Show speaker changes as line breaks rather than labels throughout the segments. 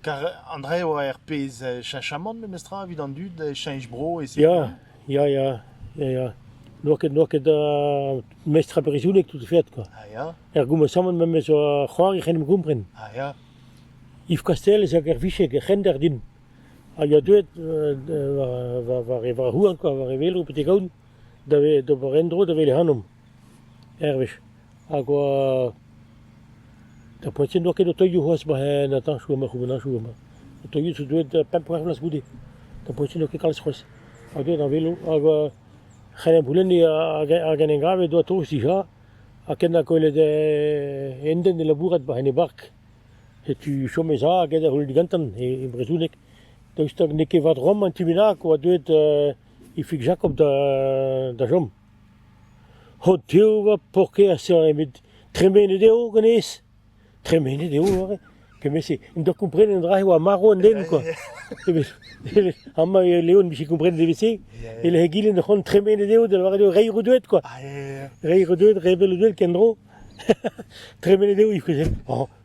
Kar an dra eo er pezh cheñchamant memestra evit an dud cheñch bro e se. Ya, ya, ya,
ya, ya. N'oa ket, n'oa ket uh, mestr ar brizounek tout fait quoi. Ah ya. Er goumesamant
memes
zo c'hoar e c'en em gompren. Ah ya.
Yves
Castel ez a er vichek, er c'hender din. Ha ya deuet uh, war, war, war, war, war houan quoi, war e velo betek aoun. da ve d'ober en-dro da wele ac'hanomp, ur wech. Hag oa d'ar poent-se n'oa ket o toilhoù c'hoazh war an atanchoù amañ, c'houbenn atanchoù amañ. O toilhoù zo deuet pemp-c'hwec'h vloaz goude. D'ar poent-se n'oa ket kalz c'hoazh. Ha deuet ar velo hag c'hell ampoulenniñ ar genengrav he doa tost dija. Ha ken ha kollet enden e labourat war en e bark. Setu chom ez a hag ed da c'houlenn gantan, e brezhoneg. Daoust hag n'eo ket vat rom an ti bennak oa deuet Ifig Jakob da chom. Ho tev va paourkaezh eo met tremenet eo hennezh. Tremenet eo aze. Kement-se. N'en doa komprenet an dra-se e oa marv an den kwa. Amañ e Leon 'vije komprenet evel-se. E-lec'h egile c'hoant tremenet eo da lavaret eo reiñ redouet kwa. Reiñ redouet, revel redouet kendro. tremenet eo Ifig.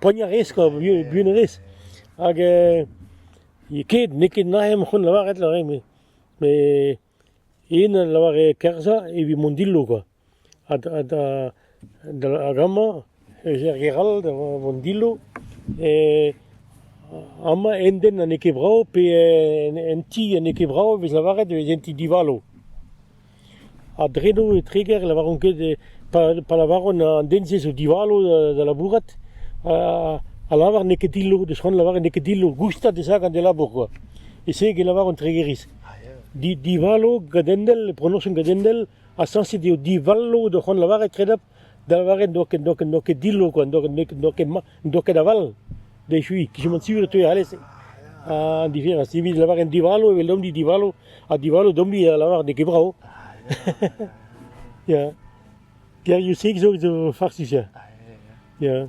poagnañ a rez kwa, buan a rez. Hag ket, n'eo ket naet am c'hoant lavaret lavaret met met yen a lavare kerzhañ evit mont dillo kwa. Ha da da da hag amañ ez er gêr all da vont dillo amañ un den n'eo ket brav pe un ti n'eo ket brav e vez lavaret e vez un ti divalo. A-dreñv e Treger e lavaran ket pa lavaran an den-se zo divalo da labourat a lavar n'eo ket dillo deus c'hoant lavaret n'eo ket dillo goustad e sagan d'e labour kwa. E-se e lavaran Tregeriz. Divalo gadendel, pronoñsoù gadendel, ha sañset eo divalo da c'hoant lavaret kredapl. Da lavaret n'oa ket, n'oa ket, n'oa ket dillo kwa, n'oa ket, n'oa ket, n'oa ket, n'oa ket aval d'echui, kichement sur e teue alese. Ha an diferañs, evit lavaret divalo, eveldomp-ni divalo, ha divalo domp-ni a lavar n'eo ket brao. Ya. Geriou-sek zo, zo farsus ya. Ya.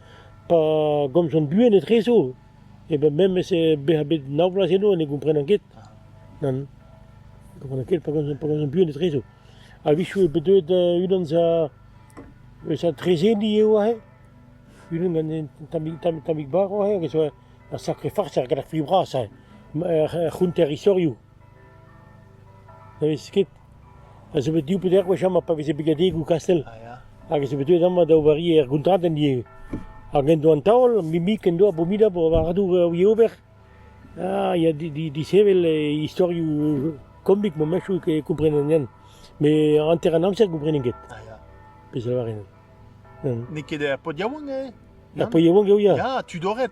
Pa gomzan buan etrezo, e ben memes bezañ bet nav bloaz eno, ne gomprenan ket. Nann, ne gomprenan ket pa gomzan, pa gomzan buan etrezo. A-wechoù eo bet deuet unan eus ar eus ar trezeni eo aze, unan gant un tammig, tammig, tammig barv aze, hag a zo ur sakre farsal gant ar fri bras aze, ar c'hounter istorioù. Ne vez ket, a zo bet div pe dek wech amañ pa veze brigadegoù kastell, hag ez eo bet deuet amañ da ober ivez er gontradenn ivez. Hag en do an taol, Mimik en do abominabl war ar dour a ouie ober, ah ya di- di- disheñvel istorioù komik meumechoù e komprenen Yann, met hanter an amzer gomprenen ket, pezh a lavarin. N'eo ket
er pod yaouank eo? Er pod yaouank
eo ya. Ya, Tudored.